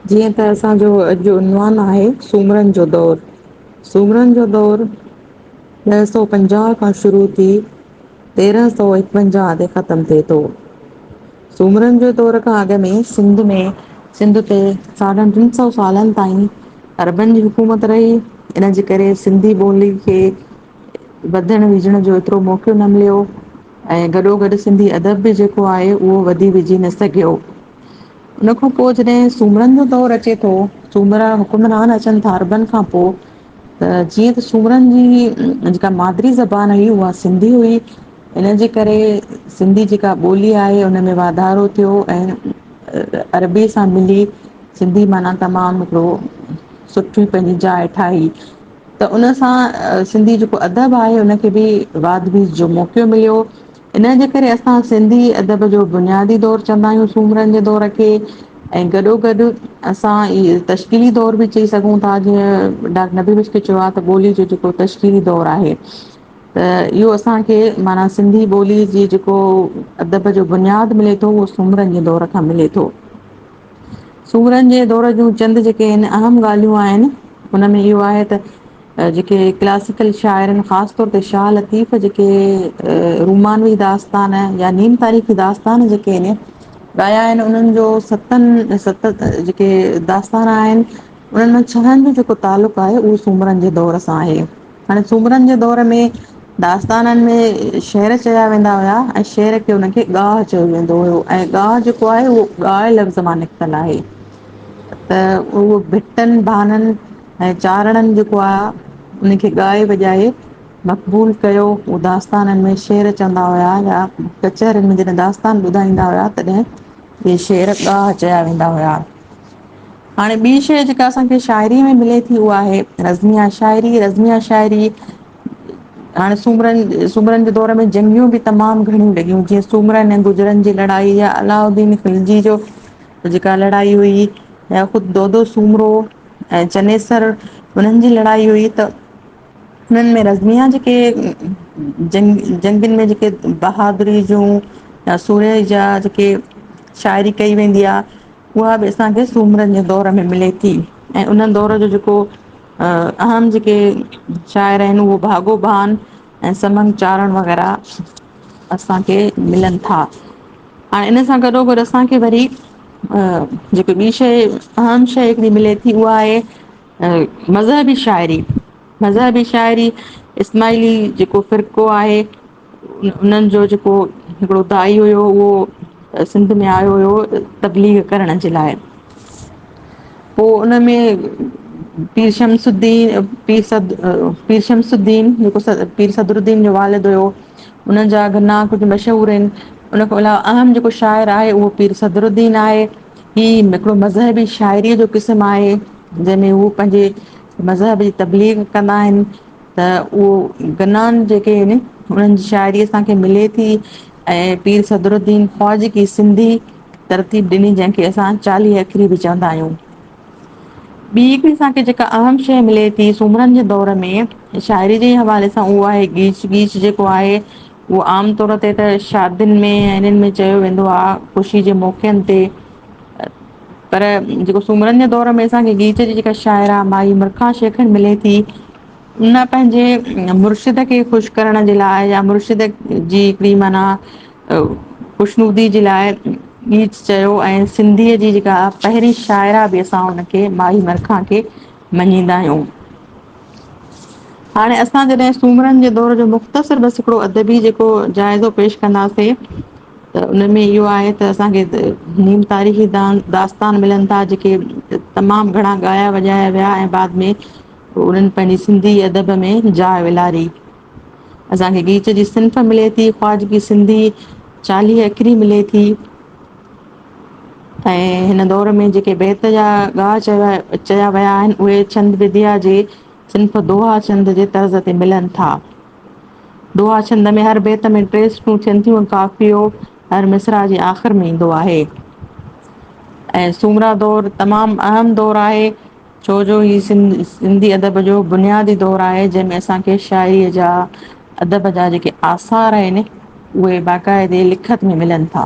جيئن ته اسان جو اڄ جو عنوان آهي سومرن جو دور سومرن جو دور ڏھ سؤ پنجاھ کان شروع ٿي تيرنھن سؤ ايڪونجاھ تي ختم ٿئي ٿو سومرن جو دور کان اڳ ۾ سنڌ ۾ سنڌ تي ساڍن ٽن سؤ سالن تائين عربن جي حڪومت رھي ان جي ڪري سنڌي ٻولي کي وڌڻ وجهڻ جو ايترو موقعو نه مليو ۽ گڏو گڏ سنڌي ادب به جيڪو آهي اهو وڌي وجهي نه سگهيو ان کان پوء جڏهن سومرن جو دور اچي ٿو، سومرا حڪمران اچن ٿا عربن کان پوء ته جيئن ته سومرن جي جيڪا مادري زبان هئي اها سنڌي هئي ان جي ڪري سنڌي جيڪا ٻولي آهي ان ۾ واڌارو ٿيو ۽ عربي سان ملي سنڌي معنيٰ تمام هڪڙو سٺي پنهنجي جاء ٺاهي ته ان سان سنڌي جيڪو ادب آهي ان کي به واڌ ويز جو موقعو مليو انهيء جي ڪري اسان سنڌي ادب جو بنيادي دور چوندا آهيون سومرن جي دور کي. ۽ گڏو گڏ اسان اهي تشڪيلي دور به چئي سگهون ٿا جيئن ڊاڪٽر نبي مشڪل کي چيو آهي ته ٻولي جو جيڪو تشڪيلي دور آهي ته اهو اسانکي معنيٰ سنڌي ٻولي جي جيڪو ادب جو بنياد ملي ٿو اهو سومرن جي دور کان ملي ٿو. سومرن جي دور جون چند جيڪي اهم ڳالهيون آهن ان ۾ اهو آهي ته جيڪي ڪلاسيڪل شاعرن خاص طور تي شاهه لطيف جيڪي رومانوي داستان يا نيم تاريخي داستان جيڪي آهن ڳايا آهن انهن جو ستن ست جيڪي داستان آهن انهن ۾ ڇهن جو جيڪو تعلق آهي اهو سومرن جي دور سان آهي هاڻي سومرن جي دور ۾ داستانن ۾ شعر چيا ويندا هيا ۽ شعر کي هن کي ڳاهه چيو ويندو هيو ۽ ڳاهه جيڪو آهي اهو ڳاهه لفظ مان نڪتل آهي ته اهو ڀٽن ڀانن ۽ چارڻن جيڪو آ ان کي ڳائي وڄائي مقبول ڪيو. هو داستانن ۾ شعر چوندا هيا يا ڪچهرين ۾ جڏهن داستان ٻڌائيندا هيا تڏهن اهي شعر ڳاهه چيا ويندا هيا. هاڻي ٻي شيء جيڪا اسان کي شاعريء ۾ ملي ٿي اها آهي رزميه شاعري. رزميه شاعري هاڻي سومرن سومرن جي دور ۾ جنگيون به تمام گهڻيون لڳيون جيئن سومرن ۽ گجرن جي لڙائي يا علاؤالدين خلجي جو جيڪا لڙائي هئي يا خود دودو سومرو ۽ چنيسر انهن جي لڙائي هئي ته انهن ۾ رزميا جيڪي جنگ جنگين ۾ جيڪي بهادري جون يا سورهيه جا جيڪي شاعري ڪئي ويندي آ اها به اسان کي سومرن جي دور ۾ ملي ٿي ۽ ان دور جو جيڪو اهم جيڪي شاعر آهن اهو ڀاڳو بان ۽ سمن چارڻ وغيره اسان کي ملن ٿا هاڻ ان سان گڏو گڏ اسان کي وري جيڪي ٻي شيء اهم شيء هڪڙي ملي ٿي اها آهي مذهبي شاعري مذهبي شاعري اسماعيلي جيڪو فرقو آهي انهن جو جيڪو هڪڙو دائي هيو اهو سنڌ ۾ آيو هيو تبليغ ڪرڻ جي لاء پوء ان ۾ پير شمس الدين پير سد پير شمس الدين جيڪو پير صدر الدين جو والد هيو انهن جا گنا ڪجهه مشهور آهن. ان کان علاوه اهم جيڪو شاعر آهي اهو پير صدرالدين آهي. هي هڪڙو مذهبي شاعريء جو قسم آهي، جنهن ۾ هو پنهنجي مذهب جي تبليغ ڪندا آهن ته اهو گنان جيڪي آهن انهن جي شاعري اسان کي ملي ٿي ۽ پير صدرالدين خواجه ڪي سنڌي ترتيب ڏني جنهن کي اسان چاليهه اکري به چوندا آهيون. ٻي هڪڙي اسان کي جيڪا اهم شيء ملي ٿي سومرن جي دور ۾، شاعري جي حوالي سان اهو آهي ڳيچ ڳيچ جيڪو آهي اهو عام طور تي ته شادين ۾ ۽ انهن ۾ چيو ويندو آ، خوشي جي موقعن تي پر جيڪو سومرن جي دور ۾ اسانکي ڳيچ جي جيڪا شاعره مائي مرکان شيخ ملي ٿي ان پنهنجي مرشد کي خوش ڪرڻ جي لاء يا مرشد جي هڪڙي معنيٰ خوشنودي جي لاء ٻي چيو ۽ سنڌيء جي جيڪا پهرين شاعره به اسان ان کي ماهي مرکان کي مڃيندا آهيون. هاڻي اسان جڏهن سومرن جي دور جو مختصر بس هڪڙو ادبي جيڪو جائزو پيش ڪنداسين ته ان ۾ اهو آهي ته اسان کي نيم تاريخي دان داستان ملن ٿا جيڪي تمام گهڻا ڳايا وڄايا ويا ۽ بعد ۾ انهن پنهنجي سنڌي ادب ۾ جاء والاري. اسان کي ڳيچ جي صنف ملي ٿي، خواجگي سنڌي چاليهه اکري ملي ٿي ۽ هن دور ۾ جيڪي بيت يا ڳاهه چيا چيا ويا آهن، اهي ڇند بديا جي صنف دوها ڇند جي طرز تي ملن ٿا. دوها ڇند ۾ هر بيت ۾ ٽي سٽون ٿين ٿيون ۽ قافيو هر مصرع جي آخر ۾ ايندو آهي ۽ سومرا دور تمام اهم دور آهي، ڇو جو هي سنڌي ادب جو بنيادي دور آهي جنهن ۾ اسان کي شاعري جا ادب جا جيڪي آثار آهن اهي باقاعدي لکت ۾ ملن ٿا.